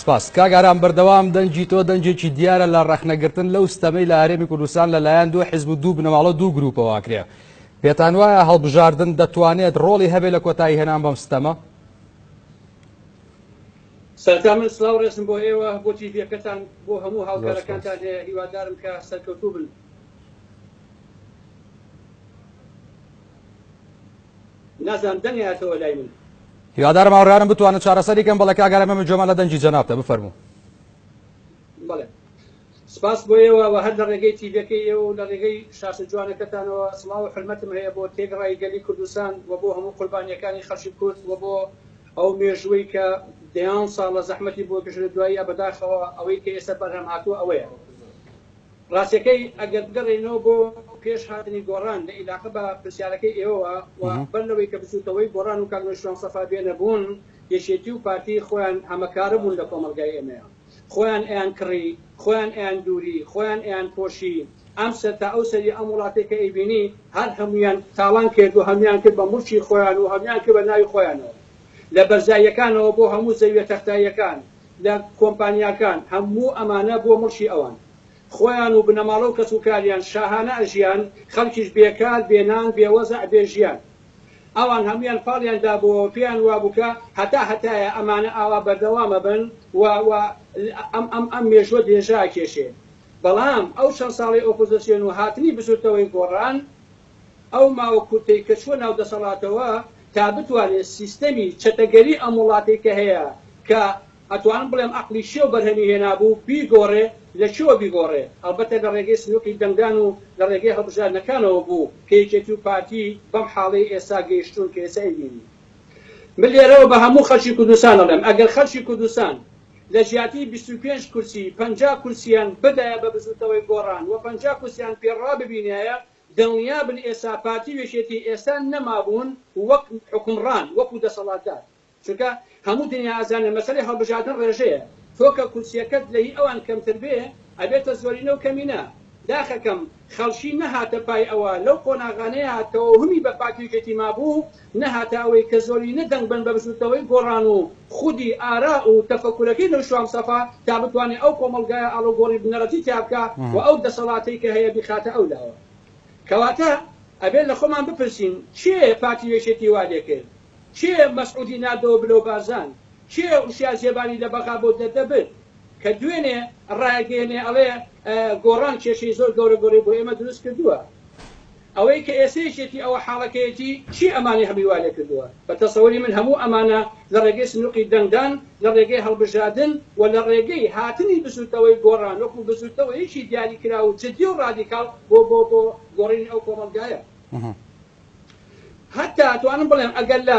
سپاس کاک ئارام بەردەوام دەنگی تۆ دەنگێکی دیارە لە ڕەخنە گرتن لەو ستەمەی لە هەرێمی کوردستان لە لایەن دوو حزب و دوو بنەماڵە دوو گروپەوە ئەکرێ پێتان وایە هەڵبژاردن دەتوانێت ڕۆڵی هەبێت لە کۆتایی هێنان بەم ستەمە سەرتا من سلاو ڕێزم بۆ ئێوە بۆ تیڤەکەتان بۆ هەموو هاوکارەکانتان هەیە هیوادارم کە سەرکەوتوو بن نازانم دەنگ ئەیاتەوە لای من. هیوادارم هاوڕێیانم بتوانن چارەسەری کەن. بەڵێ کاک ئارام ئێمە گوێمان لە دەنگی جەنابتە بفەرموو. بەڵێ سپاس بۆ ئێوە وە هەر لە ڕێگەی تیڤێکەی ئێوە و لە ڕێگەی شاشە جوانەکەتانەوە سڵاو و حورمەتم هەیە بۆ تێگڕای گەلی کوردستان وە بۆ هەموو قوربانیەکانی خەڵکی کورد وە بۆ ئەو مێژووەی کە دەیان ساڵە زەحمەتی بۆ کێشرێ دواییە بەداخەوە ئەوەی کە ئێستا بەرهەم هاتووە ئەوەیە ڕاستیەکەی ئەگەر بگەڕێینەوە بۆ پێش هاتنی گۆڕان لە ئیلاقە بە پرسیارەکەی ئێوەوە و بەر لەوەی کە بچوتەوەی گۆڕان و کاک نەوشیروان سەفا بێنە بوون یەکێتی و پارتی خۆیان هەمەکارە بوون لە کۆمەڵگای ئێمەیا خۆیان ئەیان کڕی خۆیان ئەیان دووری خۆیان ئەیان پۆشی ئەم سەر تا ئەو سەری ئەم وڵاتەی کە ئەیبینی هەر هەموویان تاڵان کرد و هەموویان کرد بە موڵکی خۆیان و هەموویان کرد بە ناوی خۆیانەوە لە بەرزاییەکانەوە بۆ هەموو زەویە تەختاییەکان لە کۆمپانیاکان هەموو ئەمانە بۆ مڵکی ئەوان خۆیان و بنەماڵە و کەس و کاریان شاهانە ئەژیان خەڵکیش بێ کار بێ نان بێ وەزع بێ ژیان ئەوان هەموویان پاڵیان دابۆوە پێیان وابوو کە هەتا هەتایە ئەمانە ئاوا بەردەوام ئەبن و و ئەم ئەم ئەم مێژووە درێژە ئەکێشێ بەڵام ئەو چەند ساڵەی ئۆپۆزسیۆن و هاتنی بزووتنەوەی گۆڕان ئەو ماوە کورتەی کە چووە ناو دەسەڵاتەوە تا بتوانێت سیستەمی چەتەگەری ئەم وڵاتەی کە هەیە کە ئەتوانم بڵێم ئەقڵی شێو بەرهەمی هێنابوو بیگۆڕێ لە کوێوە بیگۆڕێ ئەڵبەتە لە ڕێگەی سنوقی دەنگدان و لە ڕێگەی هەڵبژاردنەکانەوە بوو کە یەکێتی و پارتی بەم حاڵەی ئێستا گەیشتوون کە ئێستا ئەیبینین. من لێرەوە بە هەموو خەڵکی کوردستان ئەڵێم ئەگەر خەڵکی کوردستان لە جیاتی بیست و پێنج کورسی پەنجا کورسیان بدایە بە بزووتنەوەی گۆڕان و پەنجا کورسیان پێ ڕاببینایە دڵنیابن ئێستا پارتی و یەکێتی ئێستا نەمابوون وەک حوکمڕان وەکو دەسەڵاتدار چونکە هەموو دنیا ئەزانێ مەسەلەی هەڵبژاردن ڕێژەیە تۆ کە کورسیەکەت لە هی ئەوان کەمتر بێ ئەبێتە زۆرینە و کەمینە داخەکەم خەڵکی نەهاتە پای ئەوە لەو قۆناغانەی هاتەوە همی بە پارتی و یەکێتی مابوو نەهاتە ئەوەی کە زۆرینە دەنگ بەن بە بزووتنەوەی گۆڕان و خودی ئارا و تەفەکورەکەی نەوشام سەفا تا بتوانێ ئەو کۆمەڵگایە ئاڵوگۆڕی بنەڕەتی تیا بکا و ئەو دەسەڵاتەی کە هەیە بیخاتە ئەو لاوە. کەواتە ئەبێ لە خۆمان بپرسین کێ پارتی وێشێتی وا لێ کرد؟ کێ مەسعودی ناردەوە بلۆ بارزان؟ کێ وشیا زێباری لە بەغا بۆ دەردە برد؟ کە دوێنێ ڕایەگەیەنێ ئەڵێ گۆڕان کێشەی زۆر گەورە گۆرەی بۆ ئێمە دروست کردووە. ئەوەی کە ئێسەیشێتی ئەوە حاڵەکەیەتی چی ئەمانەی هەمووی وا لێکردووە؟ بە تەسەوری من هەموو ئەمانە لە ڕێگەی سنوقی دەنگدان، لە ڕێگەی هەڵبژادن و لە ڕێگەی هاتنی بزووتنەوەی گۆڕان وەکوو بزووتنەوەیەکی دیاری کراو و جدی و ڕادیکاڵ بۆ بۆ بۆ گۆڕینی ئەو کۆمەڵگایە هەتا توانم بڵێم ئەگەر لە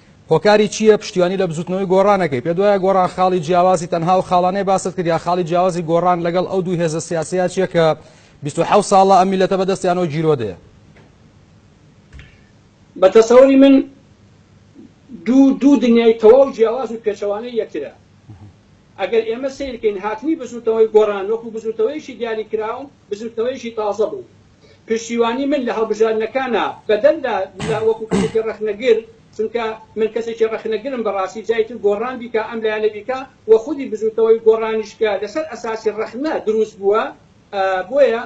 هۆکاری چییە پشتیوانی لە بزوتنەوەی گۆڕان ئەکەی؟ پێت وایە گۆڕان خاڵی جیاوازی تەنها ئەو خاڵانەیە باست کرد یا خاڵی جیاوازی گۆڕان لەگەڵ ئەو دوو هێزە سیاسیە چیە کە بیست و حەوت ساڵە ئەم میلەتە بەدەستیانەوە گیرۆدەیە؟ بە تەسەوری من دوو دوو دنیای تەواو جیاواز و پێچەوانەی یەکترە. ئەگەر ئێمە سەیر کەین هاتنی بزوتنەوەی گۆڕان وەکو بزوتنەوەیەکی دیاری کراو بزوتنەوەیەکی تازە بوو. پشتیوانی من لە هەڵبژاردنەکانە بەدەر لە لە وەکو کەسێکی ڕەخنەگر چونکە من کەسێکی ڕەخنەگرم بەڕاستی جای تر گۆڕان بیکا ئەم لایەنە بیکا وە خودی بزوتنەوەی گۆڕانیش کە لەسەر ئەساسی ڕەخنە دروست بووە بۆیە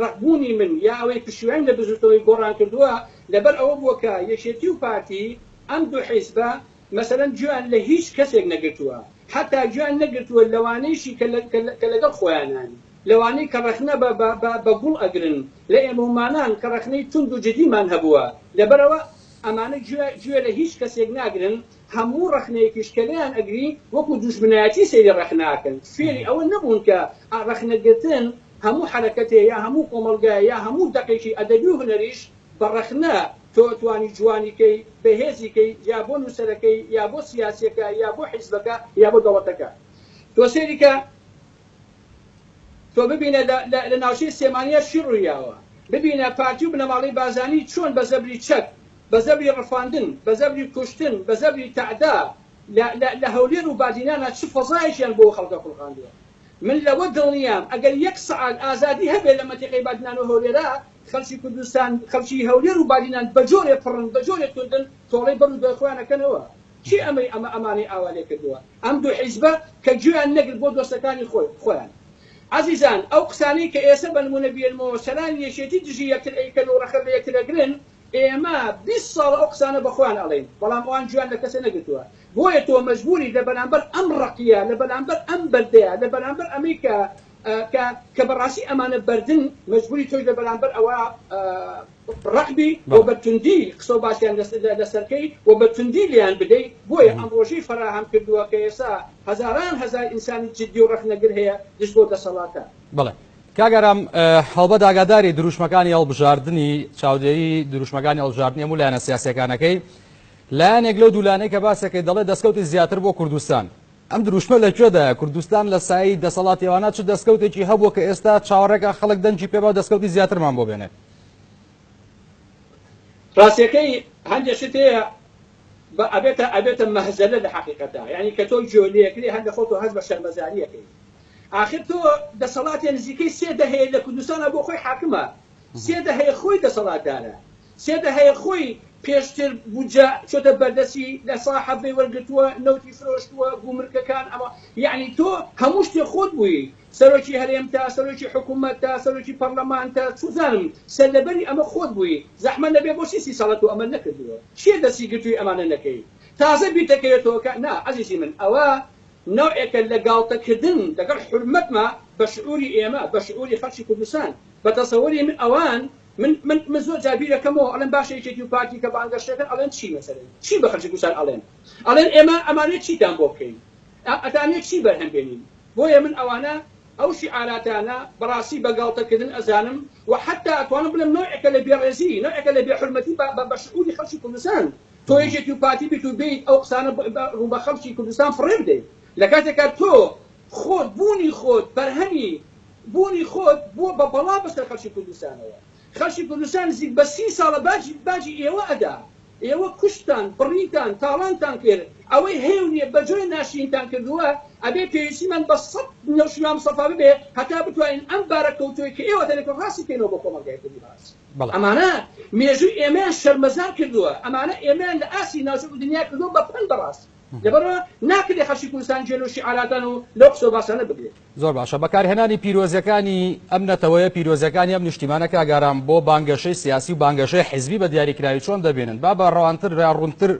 ڕقبوونی من یا ئەوەی پشتیوانیم لە بزوتنەوەی گۆڕان کردووە لەبەر ئەوە بووە کە یەکێتی و پارتی ئەم دوو حیزبە مەسەلەن گوێیان لە هیچ کەسێک نەگرتووە حەتا گوێیان نەگرتووە لەوانەیشی کە لەگەڵ خۆیانن. لەوانەی کە ڕەخنە بە بە بە گوڵ ئەگرن لە ئێمەومانان کە ڕەخنەی توند و جدیمان هەبووە لەبەرئەوە ئەمانە گوێ گوێ لە هیچ کەسێک ناگرن هەموو ڕەخنەیەکیش کە لێیان ئەگری وەکو دوژمنایەتی سەیری ڕەخنە ئەکەن فێری ئەوە نەبوون کە ڕەخنە گرتن هەموو حەرەکەتێ یا هەموو کۆمەڵگایە یا هەموو دەقێکی ئەدەبی و هونەریش بە ڕەخنە تۆ ئەتوانی جوانی کەی بەهێزی کەی یا بۆ نووسەرەکەی یا بۆ سیاسیەکە یا بۆ حیزبەکە یا بۆ دەوڵەتەکە تۆ سەیری کە تۆ ببینە لە ناوچەی سلێمانیا چی ڕوویاوە، ببینە پارتی و بنەماڵەی بارزانی چۆن بە زەبری چەک، بە زەبری ڕفاندن، بە زەبری کوشتن، بە زەبری تەعدا لە هەولێر و بادینانا چ فەزایەکیان بۆ خەڵکە خوڵقاندووە. من لەوە دڵنیام ئەگەر یەک سەعات ئازادی هەبێ لە مەنتیقەی بادینان و هەولێرا، خەڵکی کوردستان، خەڵکی هەولێر و بادینان بە جۆرێ پڕن، بە جۆرێ توندن، تۆڵەی بەر و دوای خۆیان ئەکەنەوە. کێ ئەمەی ئەمە ئەمانەی ئاوا لێ کردووە؟ ئەم دوو حیزبە کە گوێیان نەگرت بۆ دۆستەکانی خۆی خۆیان. ئازیزان ئەو قسانەی کە ئێسە بە نموونە بیێنمەوە سەرانی یەکێتی دژی یەکتر ئەیکەن و ڕەخە لە یەکتر ئەگرن ئێمە بیست ساڵە ئەو قسانە بە خۆیان ئەڵێین بەڵام ئەوان گوێیان لە کەسێ نەگرتووە بۆیە تۆ مەجبووریت لە بەرامبەر ئەم ڕەقیە لە بەرامبەر ئەم بەردەیە لە بەرامبەر ئەمەی کە کە کە بەڕاستی ئەمانە بەردن مەجبووری تۆش لە بەرامبەر ئەوە ڕەعبی و بە توندی قسە و باسیان لەسەرکەی و بە توندی لێیان بدەی بۆیە ئەم ڕۆژەی فەراهەم کردووە کە ئێسا هەزاران هەزار ئینسانی جدی و ڕەخنەگر هەیە دژ بۆ دەسەڵاتە. بەڵێ کاک ئارام هەڵبەت ئاگاداری دروشمەکانی هەڵبژاردنی چاودێری دروشمەکانی هەڵبژاردنی هەموو لایەنە سیاسیەکانەکەی لایەنێک لەو دوولانەی کە باسەکەی دەڵێ دەستکەوتی زیاتر بۆ کوردستان ئەم دروشمە لە کوێدایە کوردستان لە سایی دەسەڵاتیوانە چ دەستکەوتێکی هەبووە کە ئێستا چاوەڕێکە خەڵک دەنگی پێبا دەستکەوتی زیاترمان بۆ بێنێت ڕاستەکەی هەندێک شت هەیە بە ئەبێتە ئەبێتە مەهزەلە لە حەقیقەتدا یعنی کە تۆ گوێ لێکری هەر لە خۆتۆ هەست بە شەرمەزاریەکەی ئاخر تۆ دەسەڵاتێ نزیکەی سێ دەهەیە لە کوردستانە بۆ خۆی حاکمە سێ دەهەیە خۆی دەسەڵاتدارە سێ دەهەیە خۆی پێشتر بودجە چۆتە بەردەسی لە سا حەڤەی وەرگرتووە نەوتی فرۆشتووە گومرکەکان ئەمە یعنی تۆ هەموو شتێ خۆت بوویت سەرۆکی هەرێم تە سەرۆکی حکومەت تە سەرۆکی پەڕلەمان تە چوزانم سەرلەبەری ئەمە خۆت بووی زەحمەت نەبێ بۆچی سی ساڵە تۆ ئەمەت نەکردووە کێ دەستی گرتووی ئەمانە نەکەی تازە بیرتەکەوێتەوە کە نا ئەزیزی من ئەوە نەوعێکە لە گاڵتە کردن لەگەڵ حورمەتما بە شعوری ئێمە بە شعوری خەڵکی کوردستان بە تەسەوری من ئەوان من من من زۆر جار بیرەکەمەوە ئەڵێم باشە یەکێتی و پارتی کە بانگەشە دەکەن ئەڵێن چی مەسەلەن چی بە خەڵکی کوردستان ئەڵێن ئەڵێن ئێمە ئەمانەوێ چیتان بۆ بکەین ئەتانەوێ چی بەرهەم بێنین بۆیە من ئەوانە ئەو شیعاراتانە بەڕاستی بە گاڵتە کردن ئەزانم و حەتا ئەتوانم بڵێم نەوعێکە لە بێ ڕێزی نەوعێکە لە بێ حورمەتی بە بە شعوری خەڵکی کوردستان تۆ یەکێتی و پارتی بیت و بێیت ئەو قسانە ڕوو بە خەڵکی کوردستان فڕێ بدەیت لە کاتێکا تۆ خۆت بوونی خۆت بەرهەمی بوونی خۆت بووە بە بەڵا بەسەر خەڵکی کوردستانەوە خەڵکی کوردستان نزیک بە سی ساڵە باجی باجی ئێوە ئەدا ئێوە کوشتتان، بڕیتان، تاڵانتان کرد، ئەوەی هەیە و نییە بەجۆرێ ناشرینتان کردووە، ئەبێ پێویستیمان بە سەد نەوشیروان مستەفا ببێ هەتا بتوانین ئەم بارە کەوتووەی کە ئێوە دەنێتن ڕاستی بکەینەوە بۆ کۆمەڵگای کوردی بەڕاستی ئەمانە مێژووی ئێمەیان شەرمەزار کردووە، ئەمانە ئێمەیان لە ئاستی ناوچەک و دنیا کردووە بە پەن بەڕاستی لەبەرئەوە ناکرێ خەرکی کوردستان گوێ لەو شیعاراتان و لەو قسە و باسانە بگرێ. زۆر باشە بەکارهێنانی پیرۆزیەکانی ئەم نەتەوەیە پیرۆزیەکانی ئەم نیشتیمانە کاک ئارام بۆ بانگەشەی سیاسی و بانگەشەی حیزبی بە دیاریکراوی چۆن دەبینن با بە ڕەوانتر یا ڕوونتر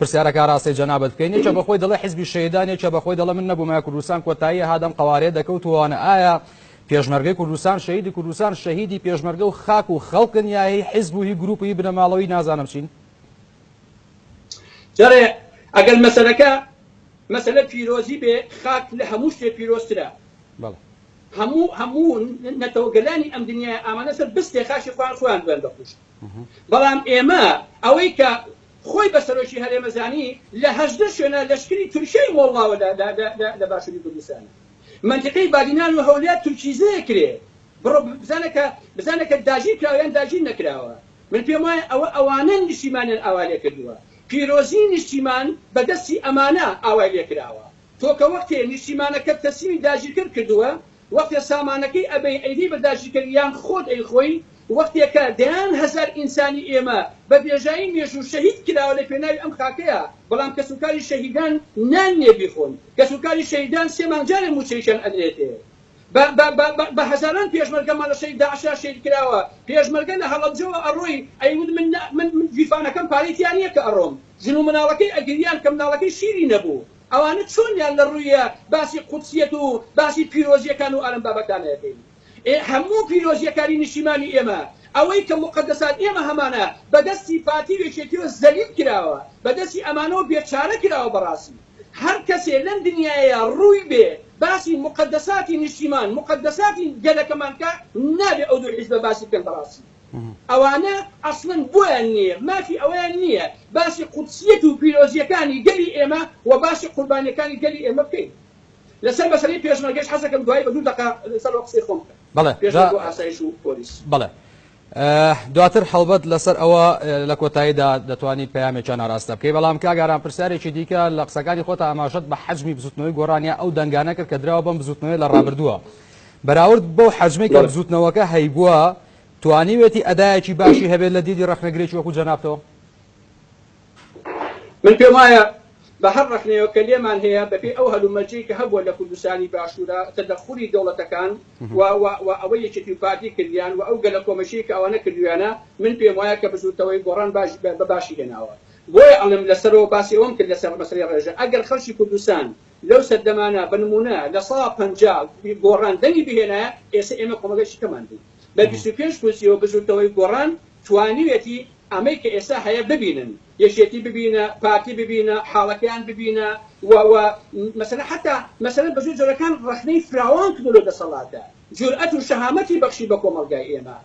پرسیارەکە ئاراستەی جەنابت بکەین یەکێ بەخۆی دەڵێ حیزبی شەهیدان یەکێ بەخۆی دەڵێ من نەبوومایە کوردستان کۆتایی هات ئەم قەوارەیە دەکەوت و ئەوانە ئایا پێشمەرگەی کوردستان شەهیدی کوردستان شەهیدی پێشمەرگە و خاک و خەڵکن یا هی حیزب و هی گروپ و هی بنەماڵە و هی نازانم چین جارێ ئەگەر مەسەلەکە مەسەلە پیرۆزی بێ خاک لە هەموو شتێ پیرۆزترە بەڵێ هەموو هەموو نەتەوە گەلانی ئەم دنیای ئامانە سەر بستێ خاشی خۆیان خۆیان بوێن دەخوشت بەڵام ئێمە ئەوەی کە خۆی بە سەرۆکی هەرێمە زانی لە هەژدە شوێنە لەشکری تورکیای مۆڵاوە لە باشووری کوردستان منتیقەی بادینان و هەولێر تورکیزەیە کرێ بڕۆ بزانە کە بزانە کە داگیر کراوە یان داگیر نەکراوە من پێم وایە ئەوە ئەوانەن نیشتیمانیان ئاوا لێ کردووە، پیرۆزیی نیشتیمان بە دەستی ئەمانە ئاوای لێ کراوە. تۆ کە وەختێ نیشتیمانەکەت تەسلیمی داگیرکەر کردووە، وەختێ سامانەکەی ئەبەی ئەیدەی بە داگیرکەر یان خۆت ئەیخۆی، وەختێ کە دەیان هەزار ئینسانی ئێمە بە بێژایی مێژوو شەهید کراوە لە پێناوی ئەم خاکەیا، بەڵام کەسوکاری شەهیدان نان نییە بیخۆن، کەسوکاری شەهیدان سێ مانگ جارێ مووچەیشیان ئەدرێتێ. بە بە بە بە بە هەزاران پێشمەرگە مەلەشەی داعشە شەید کراوە پێشمەرگە لە هەڵەبجەوە ئەڕۆی ئەیوت من نە من من گیرفانەکەم پارەی تیا نیە کە ئەڕۆم ژن و مناڵەکەی ئەگریان کە مناڵەکەی شیری نەبوو ئەوانە چۆنیان لە ڕویە باسی قودسیەت و باسی پیرۆزیەکان و ئالەم بابەتانە ئەکەین ئێ هەموو پیرۆزیەکانی نیشیمانی ئێمە ئەوەی کە موقەدەسات ئێمە هەمانە بە دەستی پارتی و یەکێتیەوە زەلیل کراوە بە دەستی ئەمانەوە بێ چارە کراوە بەڕاسی هەر کەسێ لەم دنیایە ڕووی بێ باسی موقەدەساتی نیشتیمان موقەدەساتی گەلەکەمان بکا نابێ ئەو دوو حیزبە باسی بکەن بەڕاستی ئەوانە ئەسڵەن بۆیان نیە مافی ئەوەیان نیە باسی قودسیەت و پیرۆزیەکانی گەلی ئێمە و باسی قوربانیەکانی گەلی ئێمە بکەین لەسەر مەسەلەی پێشمەرگەش حەزەکەم دوای بە دوو دەقە لەسەر قسەی خۆم بکەم پێشمەرگە و ئاسایش و پۆلیس. دواتر هەڵبەت لەسەر ئەوە لە کۆتاییدا دەتوانیت پەیامێکیان ئاراستە بکەیت بەڵام کاک ئارام پرسیارێکی دیکە لە قسەکانی خۆتە ئاماژەت بە حەجمی بزوتنەوەی گۆڕانیا ئەو دەنگانە کرد کە دراوە بەم بزوتنەوەی لە ڕابردووە بەراورد بەو حەجمەی کە بزوتنەوەکە هەیبووە توانیوێتی ئەدایەکی باشی هەبێت لە دیدی ڕەخنەگرێکی وەکو جەنابتەوە من پێم وایە بە هەر ڕەخنەیەوە کە لێمان هەیە بەپێی ئەو هەلومەرجەی کە هەبووە لە کوردستانی باشوورا تەدەخولی دەوڵەتەکان و و و ئەوەی یەکێتی و پارتی کردیان و ئەو گەلە کۆمەچیەی کە ئەوانە کردویانە من پێم وایە کە بزووتەوەی گۆڕان باش بە باشی هێناوە بۆیە ئەڵێم لە سەرەوە باسی ئەوەم کرد لە سەر مەسەلەی ڕێژە ئەگەر خەڵکی کوردستان لەو سەردەمانە بە نموونە لە سا پەنجا گۆڕان دەنگی بهێنایە ئێسە ئێمە کۆمەڵگای چیکەمان بوو بە بیست و پێنج کورسیەوە بزووتەوەی گۆڕان توانیوێتی ئەمەی کە ئێستا هەیە ببینن، یەکێتی ببینە، پارتی ببینە، حاڵەکەیان ببینە و و مەسەلەن حەتا مەسەلەن بە جۆرە جۆرەکان ڕەخنەی فراوان کردووە لەو دەسەڵاتە، جورئەت و شەهامەتی بەخشی بە کۆمەڵگای ئێمە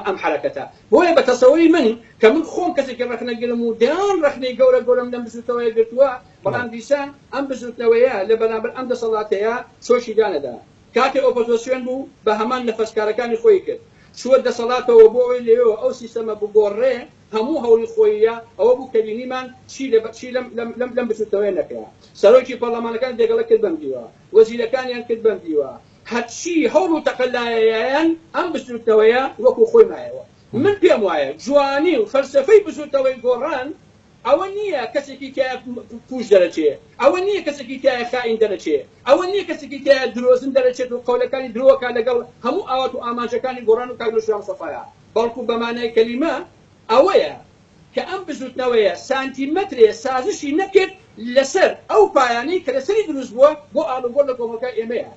ئەم حەرەکەتە. بۆیە بە تەسەوری من کە من خۆم کەسێکی ڕەخنەگرم و دەیان ڕەخنەی گەورە گەورەم لەم بزووتنەوەیە گرتووە، بەڵام دیسان ئەم بزووتنەوەیە لە بەرامبەر ئەم دەسەڵاتەیە چۆکی دانەدا. کاتێ ئۆپۆزۆسیۆن بوو بە هەمان نەفەس کارەکانی خۆی کرد چووە دەسەڵاتەوە بۆ ئەوەی لەوێوە ئەو سیستەمە بگۆڕرێ هەموو هەوڵی خۆیی ئەوە بوو کە بینیمان چی لە چی لەم لەم لەم لەم بچووکەوەیە نەکرا سەرۆکی پەڕڵەمانەکان دێگەڵە کرد بەم دیوە وەزیرەکانیان کرد بەم دیوە هەرچی هەوڵ و تەقەلایەیایان ئەم بزووتنەوەیە وەکوو خۆی مایەوە من پێم وایە جوانی و فەلسەفەی بزووتەوەی گۆڕان ئەوە نییە کەسێکی تیایە پووچ دەرەچێ، ئەوە نییە کەسێکی تیایە خائین دەرەچێ، ئەوە نییە کەسێکی تیایە درۆزن دەرەچێت و قەولەکانی درۆ ئەکات لەگەڵ هەموو ئاوات و ئامانجەکانی گۆڕان و کاک نەوشیروان مستەفایا، بەڵکو بە مانای کەلیمە ئەوەیە کە ئەم بزووتنەوەیە سانتیمەترێ سازشی نەکرد لەسەر ئەو پایانەی کە لەسەری دروست بووە بۆ ئاڵوگۆڕ لە کۆمەڵگای ئێمەیان.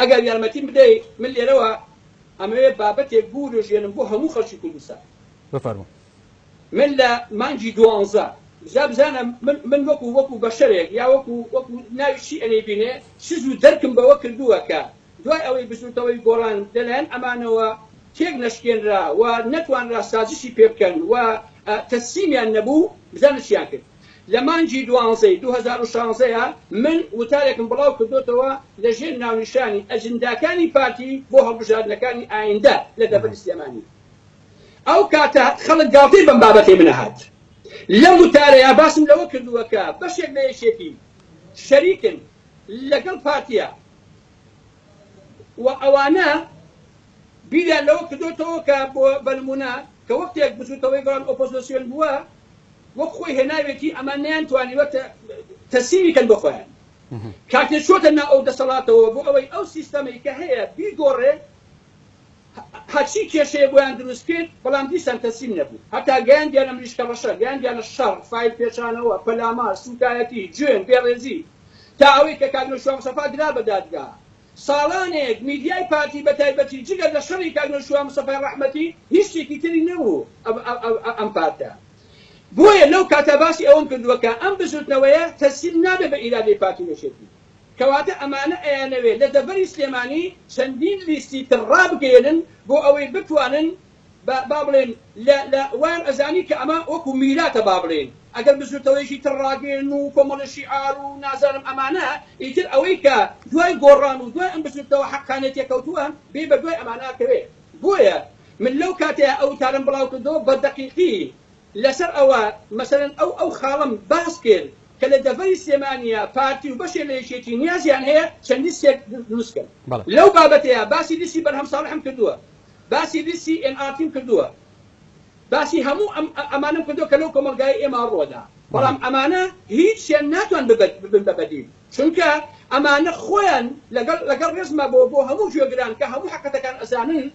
ئەگەر یارمەتیم بدەی من لێرەوە ئەمەوێ بابەتێک بوروژێنم بۆ هەموو خەڵکی کوردستان. بفەرموو. من لە مانگی دوانزە جا بزانە من من وەکو وەکو بەشەرێک یا وەکو وەکو ناوی چی ئەنێی بینێ سز و دەرکم بەوە کردووە کە دوای ئەوەی بزووتنەوەی گۆڕان لەلایەن ئەمانەوە تێک نەشکێنرا و نەتوانرا سازشی پێ بکەن و تەسلیمیان نەبوو بزانە چیان کرد. لە مانگی دوانزەی دوو هەزار و شانزەیا من وتارێکم بڵاو کردۆتەوە لە ژێر ناونیشانی ئەجنداکانی پارتی بۆ هەڵبژاردنەکانی ئایندە لە دەڤەری سلێمانی. ئەو کاتە خەڵک گاڵتەی بەم بابەتەی من ئەهات. لەم وتارەیا باسم لەوە کردووە کە بەشێک لە یەکێتی شەریکن لەگەڵ پارتیا و ئەوانە بیریان لەوە کردۆتەوە کە بۆ بە نموونە کە وەختێک بزووتەوەی گەڵان ئۆپۆزۆسیۆن بووە، وەک خۆی هێناوێتی ئەمان نەیان توانیوە تەسیمی کەن بۆ خۆیان کاتێ چۆتە ناو ئەو دەسەڵاتەوە بۆ ئەوەی ئەو سیستەمەی کە هەیە بیگۆڕێ هەرچی کێشەیە بۆیان دروست کرد بەڵام دیسان تەسیم نەبوو هەتا گەیاندیانە مریشکە ڕەشە گەیاندیانە شەڕ فایل پێچانەوە پەلامار سوکایەتی جوێن بێڕێزی تا ئەوەی کە کاک نەوشیروان مستەفا درا بە دادگا ساڵانێک میدیای پارتی بەتایبەتی جگە لە شەڕی کاک نەوشیروان مستەفای ڕەحمەتی هیچ شتێکی تری نەبوو ئەم پارتە بۆیە لەو کاتە باسی ئەوەم کردووە کە ئەم بزوتنەوەیە تەسلیم نابێت بە ئیرادەی پارتی و یەکێتی کەواتە ئەمانە ئەیانەوێت لە دەڤەری سلێمانی چەندین لیستی تر ڕابگەیەنن بۆ ئەوەی بتوانن بە با بڵێن لە لە وایان ئەزانی کە ئەمە وەکوو میراتە با بڵێن ئەگەر بزووتەوەیەکی تر ڕاگەیەن و کۆمەڵە شیعار و نازانم ئەمانە ئیتر ئەوەی کە دوای گۆڕان و دوای ئەم بزووتنەوە حەقانیە تێکەوتووە بێ بە دوای ئەمانە کەوێ بۆیە من لەو کاتەیا ئەو وتارەم بڵاو کردەوە بە دەقیقی لە سەر ئەوە مەسەلەن ئەو ئەو خاڵەم باس کرد کە لە دەڤەری سلێمانیا پارتی و بەشێ لە یەکێتی نیازیان هەیە چەند لیستێک دروست کەن لەو بابەتەیا باسی لیستی بەرهەم ساڵحم کردووە. باسی لیستی ئێن ئار تیم کردووە، باسی هەموو ئەم ئەمانەم کردووە کە لەو کۆمەڵگایەی ئێمە ڕووەدا، بەڵام ئەمانە هیچیان ناتوان ببن ببن بە بەدیل، چونکە ئەمانە خۆیان لەگەڵ لەگەڵ ڕێزما بۆ بۆ هەموو گوێگران کە هەموو حەقەتەکان ئەزانن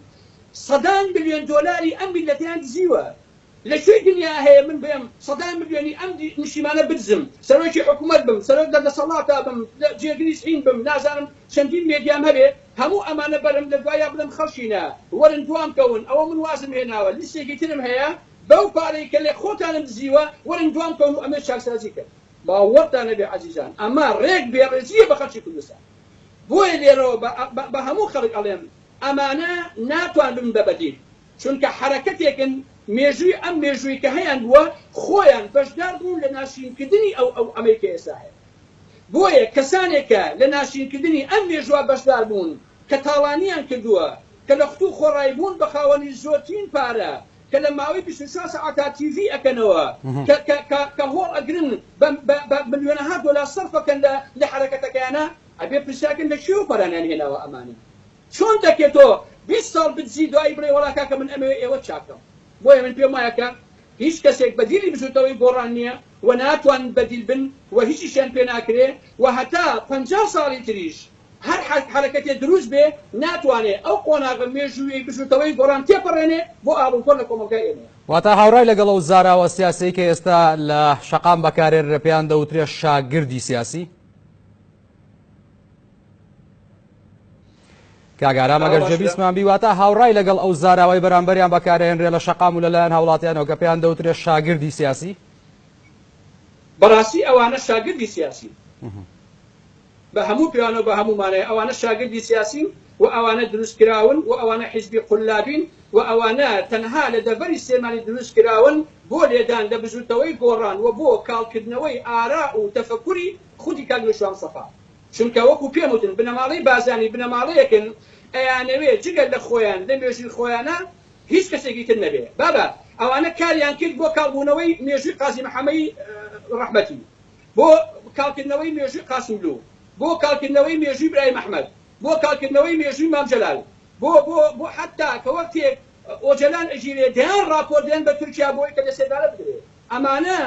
سەدان ملیۆن دۆلاری ئەم میللەتەیان دزیوە، لە کوێی دنیا هەیە من بێم سەدام ملیۆنی ئەم نیشتیمانە بدزم سەرۆکی حکومەت بم سەرۆک لە دەسەڵاتا بم جێگری زعیم بم نازانم چەندین مێدیام هەبێ هەموو ئەمانە بەرم لە دوایا بڵێم خەڵکینە وەرن دوام کەون ئەوە من وازم هێناوە لیستێکی ترم هەیە بەو پارەی کە لە خۆتانم دزیوە وەرن دوام کەون و ئەمەی چاکسازی کەن باوەڕتان نەبێ عەزیزان ئەمە ڕێک بێڕێزیە بە خەڵکی کوردستان بۆیە لێرەوە بە هەموو خەڵک ئەڵێم ئەمانە ناتوان ببن بە بەدیل چونکە حەرەکەتێکن مێژووی ئەم مێژووی کە هەیان بووە خۆیان بەشدار بوون لە ناشرینکردنی ئەو ئەو ئەمەی کە ئێستا هەیە بۆیە کەسانێک کە لە ناشرینکردنی ئەم مێژووە بەشدار بوون کە تاڵانیان کردووە کە لە خوتوو خۆڕای بوون بە خاوەنی زۆرترین پارە کە لە ماوەی بیست و چوار سەعاتا تیڤی ئەکەنەوە کە کە کە کە هۆڵ ئەگرن بە بە بە ملیۆنەها دۆلار سەرف ئەکەن لە لە حەرەکەتەکەیانا ئەبێ پرسیارکەن لە کوێوە پارانیان هێناوە ئەمانە چۆن دەکرێت تۆ بیست ساڵ بدزی دوایی بڵێی وەڵا کاکە من ئەمەوێ ئێوەت چاک کەم؟ بۆیە من پێم وایە کە هیچ کەسێک بەدیلی بزوتنەوەی گۆڕان نیە و ناتوانن بەدیل بن و هیچیشیان پێ ناکرێ و هەتا پەنجا ساڵی تریش هەر حەرەکەتێ دروست بێ ناتوانێ ئەو قۆناغە مێژوویەی بزوتنەوەی گۆڕان تێپەڕێنێ بۆ ئاڵوگۆڕ لە کۆمەڵگای ئێمەیا. واتا هاورای لەگەڵ ئەو زاراوە سیاسیەی کە ئێستا لە شەقام بەکارێررە پێیان دەوترێ شاگردی سیاسی؟ کاک ئارام ئەگەر جێبیستمان بی واتا هاوڕای لەگەڵ ئەو زاراوەی بەرامبەریان بەکارهێنرێ لە شەقام و لەلایەن هاوڵاتیانەوە کە پێیان دەوترێ شاگردی سیاسی بەڕاستی ئەوانە شاگردی سیاسین بە هەموو پێوانەوە بە هەموو مانای ئەوانە شاگردی سیاسین و ئەوانە دروست کراون و ئەوانە حیزبی قولابین و ئەوانە تەنها لە دەڤەری سلێمانی دروست کراون بۆ لێدان لە بزووتەوەی گۆڕان و بۆ کاڵکردنەوەی ئارا و تەفەکوری خودی کاک نوشیروان مستەفا، چونکە وەکو پێم وتن بنەماڵەی بارزانی بنەماڵەیەکن ئەیانەوێ جگە لە خۆیان لە مێژووی خۆیانا هیچ کەسێکی تر نەبێ بابە ئەوانە کاریان کرد بۆ کاڵ بوونەوەی مێژووی قازی محەمەی ڕەحمەتی بۆ کاڵ کردنەوەی مێژووی قاسملوو بۆ کاڵ کردنەوەی مێژووی برایم ئەحمەد بۆ کاڵ کردنەوەی مێژووی مام جەلال بۆ بۆ بۆ حەتا کە وەختێک ئۆجەلان ئەگیرێ دەیان ڕاپۆرت دەیەن بە تورکیا بۆی کە لە سێدارە بدرێ. ئەمانە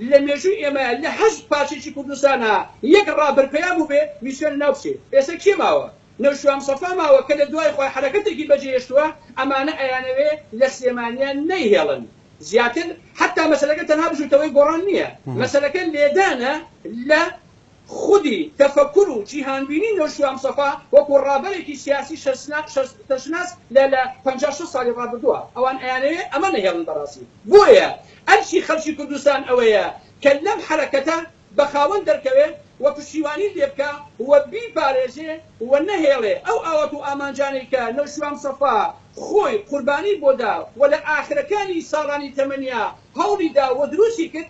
لە مێژووی ئێمە لە هەشت پارچەکی کوردستانا یەک ڕابەر پەیا بووبێ میسیۆنە ناو بچێ ئێستا کێ ماوە نەوشیروان مستەفا ماوە کە لە دوای خۆی حەرەکەتێکی بەجێ هێشتووە ئەمانە ئەیانەوێ لە سلێمانیا نەیهێڵن زیاتر حەتا مەسەلەکە تەنها بزووتەوەی گۆڕان نیە مەسەلەکە لێدانە لە خودی تەفەکور و جیهانبینی نەوشیروان مستەفا وەکو ڕابەرێکی سیاسی شەستەشناس لە لە پەنجا شەست ساڵی ڕابردوە ئەوان ئەیانەوێ ئەمە نەهێڵن بەڕاستی بۆیە ئەرکی خەڵکی کوردستان ئەوەیە کە لەم حەرەکەتە بە خاوەن دەرکەوێ و پشتیوانی لێبکا و بیپارێزێ و نەهێڵێ ئەو ئاوات و ئامانجانەی کە نەوشیروان مستەفا خۆی قوربانی بۆدا و لە ئاخرەکانی ساڵانی تەمەنیا هەوڵی دا و دروستی کرد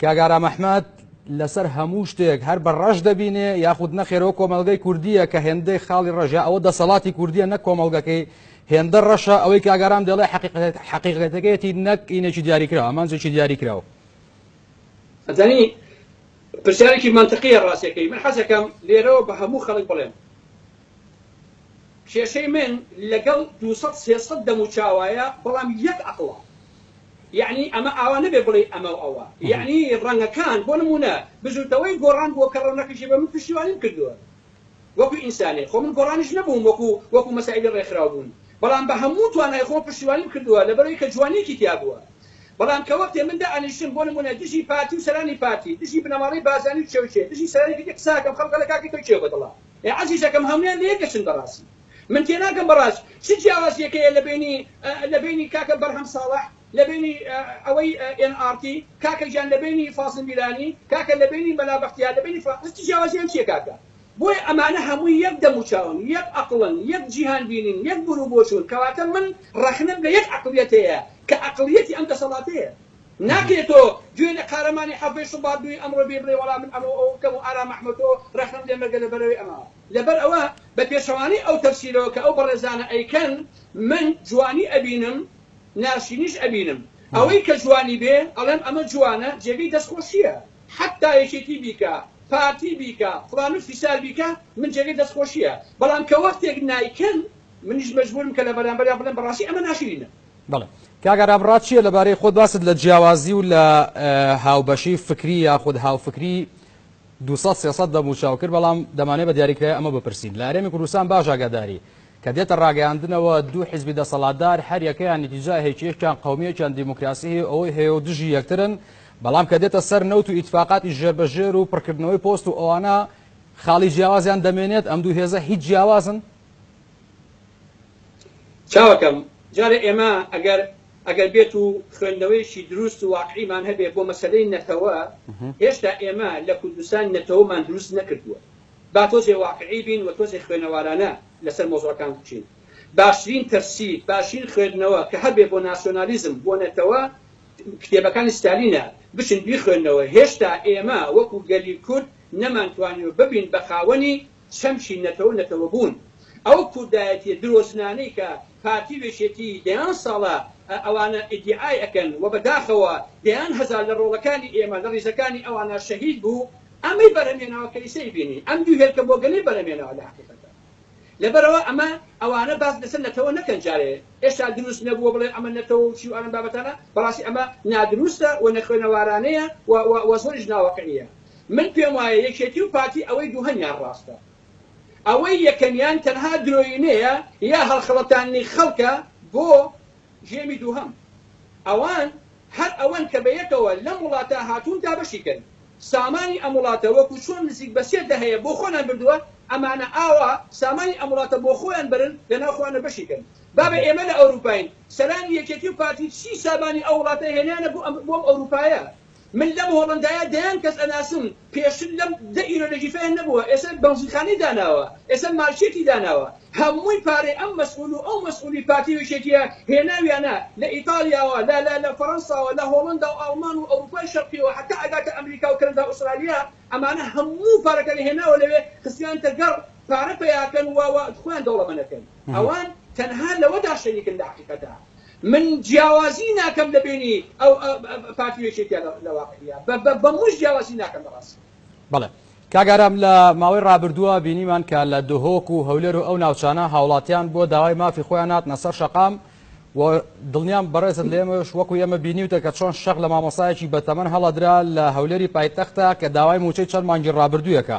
کاک ئارام ئەحمەد لەسەر هەموو شتێک هەر بە ڕەش دەبینێ یاخود نەخێرەوە کۆمەلگەی کوردیە کە هێندەی خاڵی ڕەژە ئەوە دەسەڵاتی کوردیە نە کۆمەلگەکەی هێندە ڕەشە ئەوەی کاگارام دەڵێ حقیقەتەکەیەتی نەک ئینێکی دیاریکراوە ئەمانجێکی دیاریکراوە ئەزانی پرسیارێکی مەنتقیە ڕاستەکەی من حەزەکەم لێرەوە بە هەموو خەڵک بڵێم کێشەی من لەگەڵ دوو سەد سێ سەد دەموچاوایە بەڵام یەک ئەقڵە یەعنی ئەمە ئاوا نەبێ بڵێی ئەمە و ئەوە یەعنی ڕەنگەکان بۆ نموونە بزووتنەوەی گۆڕان بووە کە ڕەونەقیشی بە من پشتیوانیم کردووە وەکو ئینسانێک خۆ من گۆڕانیش نەبووم وەکو وەکو مەسایلی ڕێکخراو بوون بەڵام بە هەموو توانای خۆم پشتیوانیم کردووە لەبەرئەوەی کە جوانیەکی تیا بووە بەڵام کە وەختێ من دائەنیشتم بۆ نموونە دژی پارتی و سەرانی پارتی دژی بنەماڵەی بارزانی و چەوشێ دژی سەرانی کەکی قسە ئەکەم خەڵک ئەڵێ کاکە تۆ کێو بەدڵە ئێ عەزیزەکەم هەموویان لە یەکەچن بەڕاستی من تێناگەم بەڕاست چ جیاوازیەکە یە لە بەینی لە بەینی کاکە بەرهەم ساڵەح لە بەینی ئەوەی ئێن ئاڕتی کاکە گیان لە بەینی فازڵ میرانی کاکە لە بەینی مەلا بەختیار لە بەینی فڵان کەس چ جیاوازیان چیە کاکە بۆیە ئەمانە هەمووی یەک دەموچاون یەک ئەقڵن یەک جیهان بینین یەک بوروبۆچوون کەواتە من ڕەخنەم لە یەک عەقڵیەتەیە کە عەقڵیەتی ئەم دەسەڵاتەیە. ناکرێت تۆ گوێ لە قارەمانی حەڤەی شوبات دووی ئەمڕۆ بی بڵێ وەڵا من ئەمە و ئەوە بکەم و ئارام ئەحمەتۆ رەخنەم لێ مەگە لە بەرەوەی ئەمەوە لە بەر ئەوە بە پێچەوانەی ئەو تەفسیرەوە کە ئەو بەڕێزانە ئەیکەن من جوانی ئەبینم ناشرینیش ئەبینم ئەوەی کە جوانی بێ ئەڵێم ئەمە جوانە جێگەی دەست خۆشیە حەتا یەکێتی بیکا پارتی بیکا فڵان و فیسار بیکا من جێگەی دەست خۆشیە بەڵام کە وەختێک نایکەن منیش مەجبورم کە لە بەرامبەریا بڵێم بەڕاستی ئەمە ناشرینە بەڵێ کاک ئارام ڕات چییە لەبارەی خۆت باست لە جیاوازی و لە هاوبەشی فکری یاخود هاوفکری 200 دەم و چاو کرد بەڵام دەمانێ بە دیاریکرای ئەمە بپرسین لە هەرێمی کوردستان باش ئاگاداری کە دێتە ڕاگەیاندنەوە دوو حزبی دەسەڵاتدار هەر یەکەیان نیتیجا هێکیەکیان قومیەکیان دیموکراسی هەیە ئەوەی هەیە و دژی یەکترن بەڵام کە دێتە سەر نەوت و ئیتفاقاتی ژێربەژێر و پڕکردنەوەی پۆست و ئەوانە خاڵی جیاوازیان دەمێنێت ئەم دوو هێزە هیچ جیاوازن چاوەکەم جارێ ئێمە ئەگەر ئەگەر بێت و خوێندنەوەیەکی دروست و واقعیمان هەبێ بۆ مەسەلەی نەتەوە هێشتا ئێمە لە کوردستان نەتەوەمان دروست نەکردووە با تۆزێ واقعی بین و تۆزێ خوێنەوارانە لەسەر مەوزوعەکان بچین باشترین تەفسیر باشترین خوێندنەوە کە هەبێ بۆ ناسیۆنالیزم بۆ نەتەوە کتێبەکانی ستالینە بچن بیخوێنەوە هێشتا ئێمە وەکو گەلی کورد نەمانتوانیوە ببین بە خاوەنی چەمکی نەتەوە نەتەوەبوون. ئەو کوردایەتیە درۆزنانەی کە پارتی و یەکێتی دەیان ساڵە ئەوانە ئیدیعای ئەکەن و بەداخەوە دەیان هەزار لە ڕۆڵەکانی ئێمە لە ڕیزەکانی ئەوانە شەهید بوو ئەمەی بەرهەمهێناوە کەیسەی بینی ئەم دوو هێلکە بۆگەنەی بەرهەمهێناوە لە هەقیقەتدا لەبەرئەوە ئەمە ئەوانە باس لەسەر نەتەوە نەکەن جارێ ئێشتا دروست نەبووە بڵێ ئەمە نەتەوە و چی و ئەم بابەتانە بەڕاستی ئەمە نادروستە و نەخوێنەوارانەیە و زۆریش ناواقعیە. من پێم وایە یەکێتی و پارتی ئەوەی دووهەمیان ڕاستە ئەوەی یەکەمیان تەنها درۆینەیە یا هەڵخەڵەتاندنی خەڵکە بۆ ژێمی دووهەم ئەوان هەر ئەوەن کە بەیەکەوە لەم وڵاتە هاتوون دابەشی کەن سامانی ئەم وڵاتە وەکو چۆن نزیک بە سێ دەهەیە بۆ خۆنان بردووە ئەمانە ئاوا سامانی ئەم وڵاتە بۆ خۆیان بەرن لە ناو خۆیانە بەشی کەن بابە ئێمە لە ئەوروپاین سەرانی یەکێتی و پارتی چی سامانی ئەو وڵاتە هێنانە بۆ ئەم ئەوروپایە من لەم هۆڵەندایە دەیان کەس ئەناسم پێشتر لەم دە ئیرۆ نەژیفەیان نەبووە ئێسە بەنزینخانەی داناوە ئێسە مارکێتی داناوە هەمووی پارەی ئەم مەسئول و ئەو مەسئولی پارتی و یەکێتیە هێناویانە لە ئیتالیاوە لە لە لە فەرەنساوە لە هۆڵەندا و ئاڵمان و ئەوروپای شەرقیەوە هەتا ئەگاتە ئەمریکا و کەنەدا و ئوسترالیا ئەمانە هەموو پارەکانی هێناوە لەوێ خستویانتە گەڕ پارە پەیاکەن و و خۆیان دەوڵەمەنەکەن ئەوان تەنها لەوەدا شەریکن لە حەقیقەتا من جیاوازی ناکەم لە بەینی ئەو پارتی و یەکێتیە لە واقعیا بە موش جیاوازی ناکەم لە ڕاستیا. بەڵێ کاک ئارام لە ماوەی ڕابردووە بینیمان کە لە دهۆک و هەولێر و ئەو ناوچانە هاوڵاتیان بۆ داوای مافی خۆیان هاتنە سەر شەقام و دڵنیام بەڕێزت لێمەش وەکو ئێمە بینیوتە کە چۆن شەق لە مامۆسایەکی بەتەمەن هەڵەدرا لە هەولێری پایتەختە کە داوای موچەی چەند مانگی ڕابردوویەکە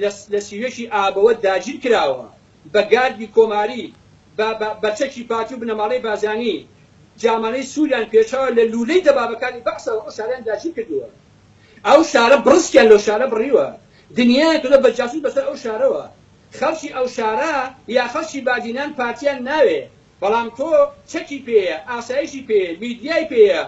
لە لە سیوێکی ئابەوە داگیر کراوە بە گاردی کۆماری بە بە بە چەکی پارتی و بنەماڵەی بارزانی جامانەی سوریان پێچاوە لە لولەی دەبابەکانی بەعسەوە ئەو شارەیان داگیر کردووە ئەو شارە بڕسکیان لەو شارە بڕیوە دنیایان کردوە بە جاسوس بەسەر ئەو شارەوە خەڵکی ئەو شارە یا خەڵکی بادینان پارتیان ناوێ بەڵام تۆ چەکی پێیە ئاسایشی پێیە میدیای پێیە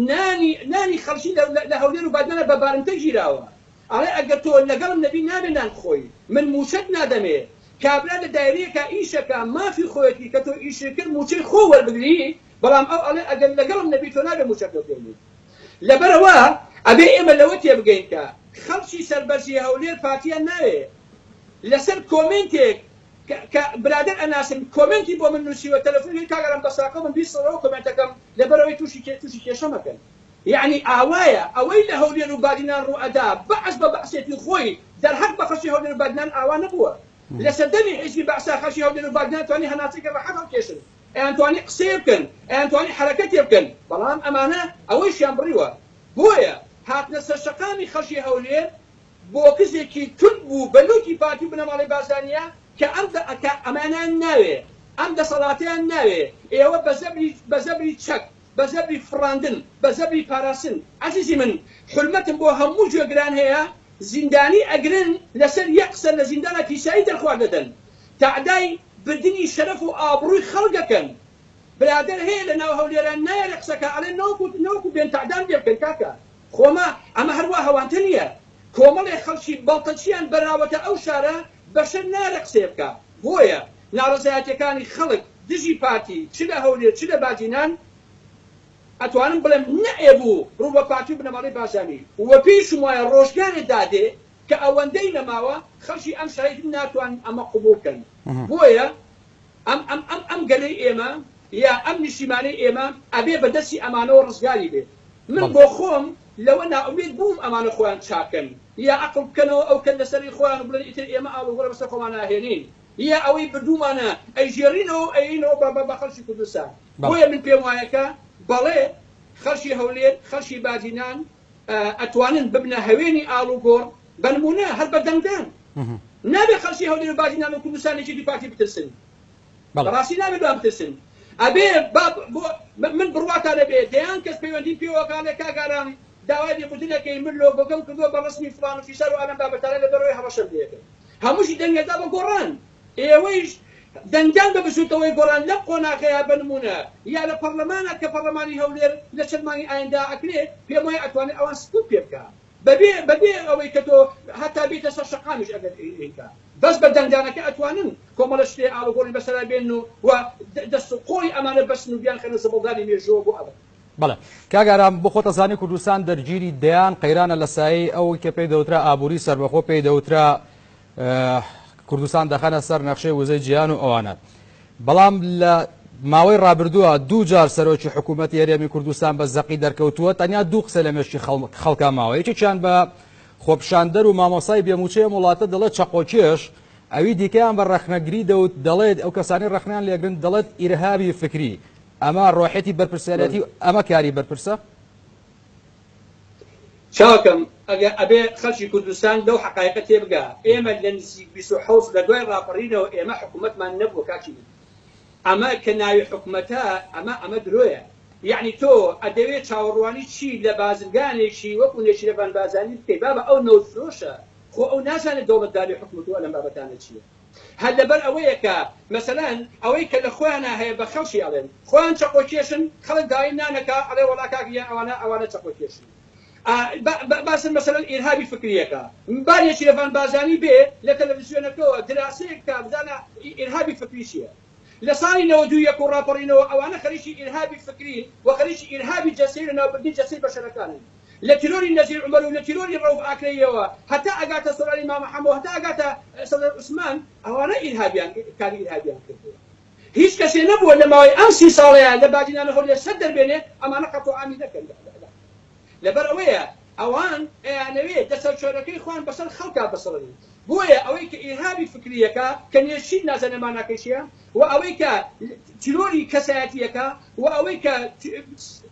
نانی نانی خەڵکی لە لە هەولێر و بادینانە بە بارمتە گیراوە ئەڵێ ئەگەر تۆ لەگەڵم نەبی نابێ نان بخۆی من مووچەت نادەمێ کابرا لە دایرەیەکا ئیشەکا مافی خۆیەتی کە تۆ ئیشی کرد مووچەی خۆو وەربگری بەڵام ئەو ئەڵێ ئەگەر لەگەڵم نەبی تۆ نابێ مووچەت لۆ بێنین لەبەرئەوە ئەبێ ئێمە لەوە تێبگەین کە خەڵکی سەربەرزی هەولێر پارتیان ناوێ لەسەر کۆمێنتێک کە کە برادەر ئەناسن کۆمێنتی بۆ من نووسیوە تەلەفونی کردم کاک ئارام بەساکەو من بیسڕەوە کۆمێنتەکەم لەبەرئەوەی تووشی تووشی کێشە مەکەن. یەعنی ئاوایە ئەوەی لە هەولێر و بادینان ڕووئەدا بەعس بە بەعسێتی خۆی دەرهەق بە خەڵکی هەولێر و بادینان ئاوا نەبووە لە سەردەمی حیزبی بەعسا خەڵکی هەولێر و بادینان توانی هەناسەێکی ڕەحەت هەڵکێشن ئەیان توانی قسەێ بکەن ئەیان توانی حەرەکەتێ بکەن بەڵام ئەمانە ئەوەیشیان بڕیوە بۆیە هاتنە سەر شەقامی خەڵکی هەولێر بۆکزێکی توند بوو بە لوتی پارتی و بنەماڵەی بارزانیە کە ئەم دە کە ئەمانیان ناوێ ئەم دەسەڵاتەیان ناوێ ئێوە بە زەبری بە زەبری چەک بە زەبری فڕاندن، بە زەبری پاراستن، عەزیزی من حورمەتم بۆ هەموو گوێگران هەیە، زیندانی ئەگرن لەسەر یەک قسە لە زیندانا پیسایی دەرخوارد ئەدەن، تەعدای بردنی شەرەف و ئابڕووی خەڵک ئەکەن، برادەر هەیە لە ناو هەولێران نایەرێ قسە کا ئەڵێن نەوەکو نەوەکو بێن تەعدام لێ بکەن کاکە خۆما ئەمە هەر وا هەوانتە نییە کۆمەڵێ خەڵکی بەڵتەچیان بەراوەتە ئەو شارە بەشەر نارێ قسەی بکا بۆیە ناڕەزایەتیەکانی خەڵک دژی پارتی چ لە هەولێر چ لە بادینان ئەتوانم بڵێم نەئەبوو ڕوو بە پارتی و بنەماڵەی بارزانی و پێیشم وایە ڕۆژگارێ دادێ کە ئەوەندەی نەماوە خەڵکی ئەم شەڕەی تر ناتوانن ئەمە قبوڵ کەن بۆیە ئەم ئەم ئەم ئەم گەلەی ئێمە یا ئەم نیشیمانەی ئێمە ئەبێ بە دەسی ئەمانەوە ڕزگاری بێ من بەڵێ. بۆ خۆم لەوە نائومێد بووم ئەمانە خۆیان چاک کەن یا ئەقڵ بکەنەوە ئەو کەل لەسەرەی خۆیان و بڵێن ئیتر ئێمە ئاڵ و گۆڕێ بەسەر خۆمان ناهێنین یا ئەوەی بردوومانە ئەیژێڕینەوە و ئەیەینەوە بە بە بە خەڵکی کوردستان بەڵێ. بۆیە من پێم وایە کە بەڵێ خەڵکی هەولێر خەڵکی باجی نان ئەتوانن ببنە هەوێنی ئاڵوگۆڕ بەنمونە هەر بە دەنگدان نابێ خەڵکی هەولێرو باجی نامەی کوردستان لە یەکێتی پارتی بترسن بەڕاستی نابێت لەوان بترسن ئەبێ من بڕواتا نەبێ دەیان کەس پەیوەندیم پێوەکە لە کاک ئارام داوای لێبوردنەکەی من لۆگۆکەم کردوە بە ڕەسمی فڵان و فیسار و ئالان بابەتانە لەبەرئەوەی هەڕەشەم لێکرد هەمووشی دەنگێدا بە گۆڕان ئێوەیش دەنگدان بە بزووتنەوەی گۆڕان لەم قۆناغەیا بە نموونە یا لە پەڕلەمانا کە پەڕلەمانی هەولێر لە چەند مانگی ئایندە ئەکرێ پێم وایە ئەتوانێ ئەوان سکوت پێ بکا بە بێ بە بێ ئەوەی کە تۆ هەتا بیتە سەر شەقامیش ئەگەر ئیکا بەس بە دەنگدانەکە ئەتوانن کۆمەڵە شتێ ئاڵوگۆڕی بەسەرا بێنن و و دەست و قۆڵی ئەمانە بەستن و بیان خەنە زبڵدانی مێژووەوە بۆ ئەبەد. بەڵێ کاک ئارام بۆ خۆت ئەزانی کوردستان دەرگیری دەیان قەیرانە لە سایەی ئەوەی کە پێی دەوترا ئابووری سەربەخۆ پێی دەوترا کوردستان دەخەنە سەر نەخشەی وزەی جیهان و ئەوانە بەڵام لە ماوەی ڕابردووە دوو جار سەرۆکی حکوومەت یاریێمی کوردستان بە زەقی دەرکەوتووە تەنیا دوو قسە لە مێشتی خەڵکا ماوە یەکێکیان بە خۆپشاندەر و مامۆسای بێموچەیە وڵاتە دەڵێت چەقۆکێش ئەوی دیکەیان بە ڕەخنەگری دەوت دەڵێت ئەو کەسانی ڕەخنیان لێگرن دەڵێت ئیرهابی فکری ئەمە ڕۆحێتی بەرپرسیارەتی ئەمە کاری بەرپرسە چاکم ئەگە ئەبێ خەلکی کوردستان لەو حەقایقە تێبگا ئێمە لە نزیک بیست و حەوت لە دوای ڕاپەڕینەوە ئێمە حکومەتمان نەبووە کاکی من ئەمە کە ناوی حکومەتە ئەمە ئەمە درۆیە یەعنی تۆ ئەدەوێ چاوەڕوانی چی لە بازرگانێکی وەکو نێچیرەڤان بارزانی بکەی بابە ئەو نەوت فرۆشە خۆ ئەو نازانێ دەوڵەتداری حکومەت و ئەلەم بابەتانە چیە هەر لەبەر ئەوەیە کە مەسەلەن ئەوەی کە لە خۆیانا هەیە بە خەڵکی ئەڵێن خۆیان چەقۆ کێشن خەڵک داوای نان ئەکا ئەڵێ وەڵا کاک ژیان ئەوانە ئەوانە چەقۆ کێشن ئا باسن مەسەلەن ئیرهابی فکریەکە با نێچیرەڤان بازانی بێ لە تەلەفزیۆنەکەوە دراسەیەک بکا بزانە ئیرهابی فکری چیە لە ساڵی نەوەد و یەک و ڕاپەڕینەوە ئەوانە خەریکی ئیرهابی فکرین و خەریکی ئیرهابی جەستەی لە ناوبردنی جەستەی بەشەرەکانن لە تیرۆری نەزیر عومەر و لە تیرۆری ڕەوف ئاکرەییەوە هەتا ئەگاتە سەرانی مامە حەمەوە هەتا ئەگاتە سەدر عوسمان ئەوانە ئیرهابیان کاری ئیرهابیان کردووە هیچ کەسێ نەبووە لە ماوەی ئەم سی ساڵەیا لە بادینانە هەولێر سەر دەربێنێ ئەمانە قەتڵ عامی نەکەن لە عێراق لەبەر ئەوەیە ئەوان ئەیانەوێ دەسەلچۆرەکەی خۆیان بەسەر خەڵکا بسڕنن بۆیە ئەوەی کە ئیرهابی فکریەکە کە نێچیر نازانێ ماناکەی چیە و ئەوەی کە تیرۆری کەسایەتیەکە و ئەوەی کە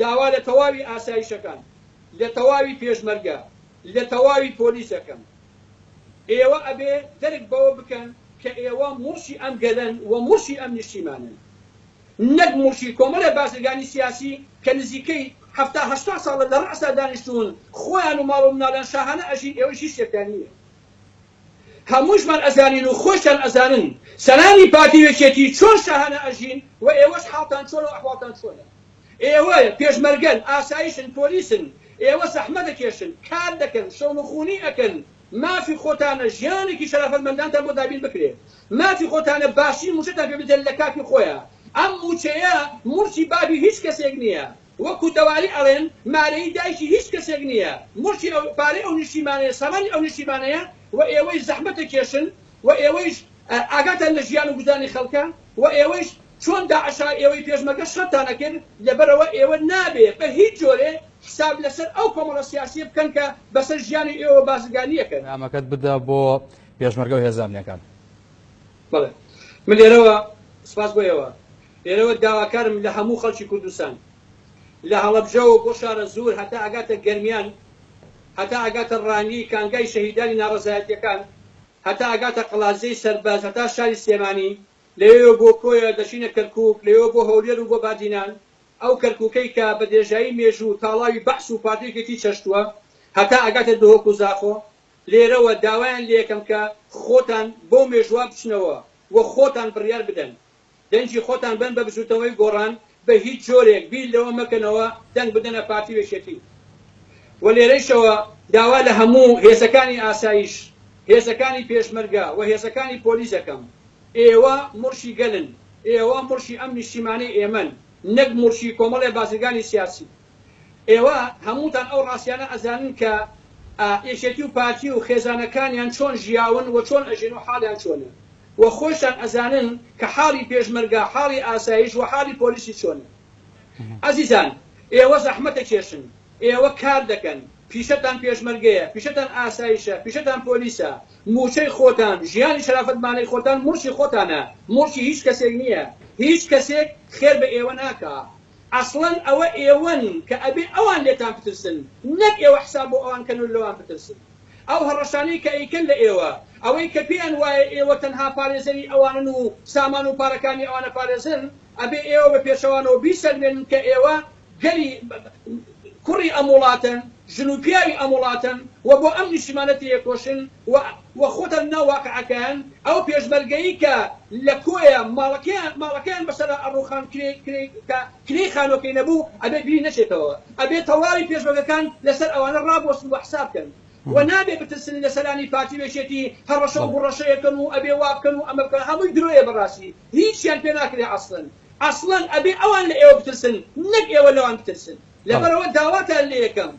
داوا لە تەواوی ئاسایشەکان، لە تەواوی پێشمەرگە، لە تەواوی پۆلیس دەکەم. ئێوە ئەبێ دەرک بەوە بکەن کە ئێوە موڵکی ئەم گەلەن و موڵکی ئەم نیشتیمانەن. نەک موڵکی کۆمەڵێ بازرگانی سیاسی کە نزیکەی حەفتا هەشتا ساڵە لە ڕەئسا دانیشتوون، خۆیان و ماڵ و مناڵیان شاهانە ئەژین، ئێوەیش هیچ شتێکتان نییە. هەمووشمان ئەزانین و خۆشتان ئەزانن سەرانی پارتی و یەکێتی چۆن شاهانە ئەژین و ئێوەش حاڵتان چۆنە و ئەحواڵتان چۆنە؟ ئێوە پێشمەرگەن، ئاسایشن، پۆلیسن، ئێوە زەحمەت ئەکێشن، کار دەکەن، شەونخوونی ئەکەن، مافی خۆتانە ژیانێکی شەرافەتمەندانتان بۆ دابین بکرێت، مافی خۆتانە باشترین مووچەتان پێ بدرێت لە کاتی خۆیا، ئەم مووچەیە موڵکی بابی هیچ کەسێک نییە، وەکو دەواری ئەڵێن مارەیی دایکی هیچ کەسێک نییە، موڵکی ئەو، پارەی ئەو نیشتیمانەیە، سامانی ئەو نیشتیمانەیە و ئێوەیش زەحمەتەکێشن و ئێوەیش ئاگاتان لە ژیان و گوزەرانی خەڵکە و ئێوەیش چۆن داعشە ئێوەی پێشمەرگە شەڕتانە کرد، لەبەرئەوە ئێوە نابێ بە هیچ جۆرێ حساب لەسەر ئەو کۆمەڵە سیاسییە بکەن کە بەسەر ژیانی ئێوەوە بازرگانییەکەن. نامەکەت بدە بۆ پێشمەرگە و هێزە ئەمنیەکان. بەڵێ من لێرەوە سپاس بۆ ئێوە لێرەوە داواکارم لە هەموو خەڵکی کوردستان لە هەڵەبجەوە بۆ شارە زوور هەتا ئەگاتە گەرمیان هەتا ئەگاتە ڕانیی کانگای شەهیدانی ناڕەزایەتییەکان هەتا ئەگاتە قەڵادزێی سەربەز هەتا شاری سلێمانی لەوێوە بۆ کۆیە دەچینە کەرکووک لەوێوە بۆ هەولێر و بۆ بادینان ئەو کەرکووکەی کە بە درێژایی مێژوو تاڵاوی بەعس و پارتی و یەکێتی چەشتووە هەتا ئەگاتە دهۆک و زاخۆ لێرەوە داوایان لێکەم کە خۆتان بەو مێژووە بچنەوە و خۆتان بڕیار بدەن. دەنگی خۆتان بەن بە بزووتنەوەی گۆڕان، بە هیچ جۆرێک بیر لەوە مەکەنەوە دەنگ بدەنە پارتی و یەکێتی. و لێرەیشەوە داوا لە هەموو هێزەکانی ئاسایش، هێزەکانی پێشمەرگە و هێزەکانی پۆلیس دەکەم. ئێوە مورشی گەلن، ئێوە مورشی ئەم نیشتیمانەی ئێمەن، نەک مورشی کۆمەڵێ بازرگانی سیاسی. ئێوە هەمووتان ئەو ڕاستیانە ئەزانن کە ئا یەکێتی و پارتی و خێزانەکانیان چۆن ژیاون و چۆن ئەژین و حاڵیان چۆنە و خۆیشتان ئەزانن کە حاڵی پێشمەرگە حاڵی ئاسایش و حاڵی پۆلیسی چۆنە ئەزیزان ئێوە زەحمەتەکێشن ئێوە کار دەکەن پیشەتان پێشمەرگەیە پیشەتان ئاسایشە پیشەتان پۆلیسە مووچەی خۆتان ژیانی شەرافەتمانەی خۆتان موڵکی خۆتانە موڵکی هیچ کەسێک نییە هیچ کەسێک خێر بە ئێوە ناکا ئەسڵەن ئەوە ئێوەن کە ئەبێ ئەوان لێتان بترسن نەک ئێوە حساب بۆ ئەوان کەن و لەوان بترسن ئەو هەڕەشانەی کە ئەیکەن لە ئێوە ئەوەی کە پێیان وایە ئێوە تەنها پارێزەری ئەوانن و سامان و پارەکانی ئەوان ئەپارێزن ئەبێ ئێوە بە پێچەوانەوە بیسەلمێنن کە ئێوە گەلی کوڕی ئەم وڵاتەن ژن و پیاوی ئەم وڵاتەن و بۆ ئەم نیشتیمانە تێیەکۆشن و و خۆتان ناو واقعەکەیان، ئەو پێشمەرگەی کە لە کۆیە ماڵەکەیان ماڵەکەیان بەسەرا ئەڕوخان کرێی کرێی کە کرێی خانوەکەی نەبوو ئەبێ بیری نەچێتەوە ئەبێ تەواوی پێشمەرگەکان لەسەر ئەوانە ڕابوەستن و حساب کەن و نابێ بترسن لە سەرانی پارتی و یەکێتی هەڕەشە و گوڕەشەیەکەن و ئەبێ وابکەن و ئەمە بکەن هەمووی درۆیە بەڕاستی هیچیان پێ ناکرێ ئەسڵەن ئەسڵەن ئەبێ ئەوان لە ئێوە بترسن نەک ئێوە لەوان بترسن. لەبەرئەوە داواتان لێەکەم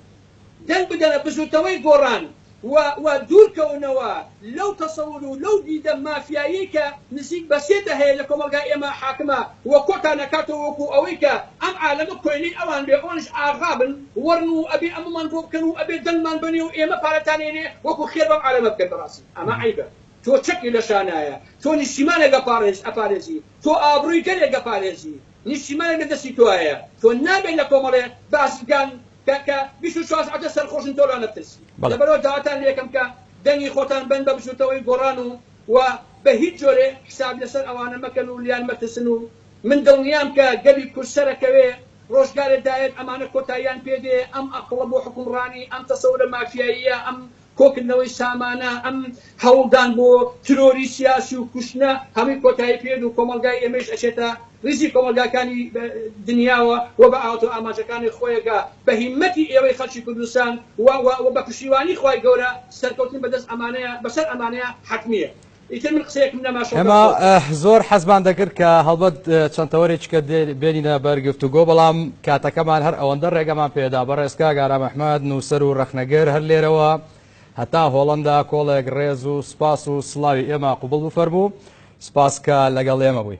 دەنگ بدەنە بزوتنەوەی گۆڕان و و دوورکەونەوە لەو تەسەور و لەو دیدە مافیاییەی کە نزیک بە سێ دەهەیە لە کۆمەڵگای ئێمە حاکمە و کۆتان ئەکاتەوە وەکو ئەوەی کە ئەم عالەمە کۆیلەی ئەوان بێ ئەوانیش ئاغا بن وەڕن و ئەبێ ئەمەمان بۆ بکەن و ئەبێ دەنگمان بەنێ و ئێمە پارەتان ئێنێ وەکو خێر بەم عالەمە بکەن بەڕاستی ئەمە عەیبە تۆ چەکی لە شانایە تۆ نیشتیمانێک ئەپاڕێز ئەپارێزی تۆ ئابڕوی گەلێک ئەپارێزی نیشتیمانێک لە دەستی تۆایە تۆ نابێت لە کۆمەڵێ بازرگان کە کە بیست و چوار سەعاتە سەرخۆشن تۆ لانە بترسی بەڵێ. لەبەرئەوە داواتان لێ ئەکەم کە دەنگی خۆتان بەن بە بزوتنەوەی گۆڕان و و بە هیچ جۆرێ حساب لەسەر ئەوانە مەکەن و لیان مەترسن و من دڵنیام کە گەلی کورد سەرەکەوێ ڕۆژگارێ دایەت ئەمانە کۆتاییان پێ دێ ئەم ئەقڵە بۆ حوکمڕانی ئەم تەسەورە مافیاییە ئەم کۆکردنەوەی سامانە، ئەم هەوڵدان بۆ ترۆری سیاسی و کوشتنە هەمووی کۆتایی پێ دێت و کۆمەڵگای ئێمەیش ئەچێتە ریزی کۆمەڵگاکانی دنیاوە و بە ئاواتو ئامانجەکانی خۆیەگا بە هیمەتی ئێوەی خەڵکی کوردستان و و و بە پشتیوانی خوای گەورە سەرکەوتن بەدەست ئەمانەیە بەسەر ئەمانەیە حەتمیە. ئیتر من قسەیەکم نەما شەو ئێمە داخەوتم. زۆر حەزمان دەکرد کە هەڵبەت چەند تەوەرێکیکە بێنینە بەر گفتوگۆ بەڵام کاتەکەمان هەر ئەوەندە ڕێگەمان پێدا بەڕێز کاک ئارام ئەحمەد نووسەر و ڕەخنەگر هەر لێرەوە هەتا هۆڵەندا کۆڵێک ڕێز و سوپاس و سڵاوی ئێمە قوبڵ بفەرموو سپاس کە لەگەڵ ئێمە بووی.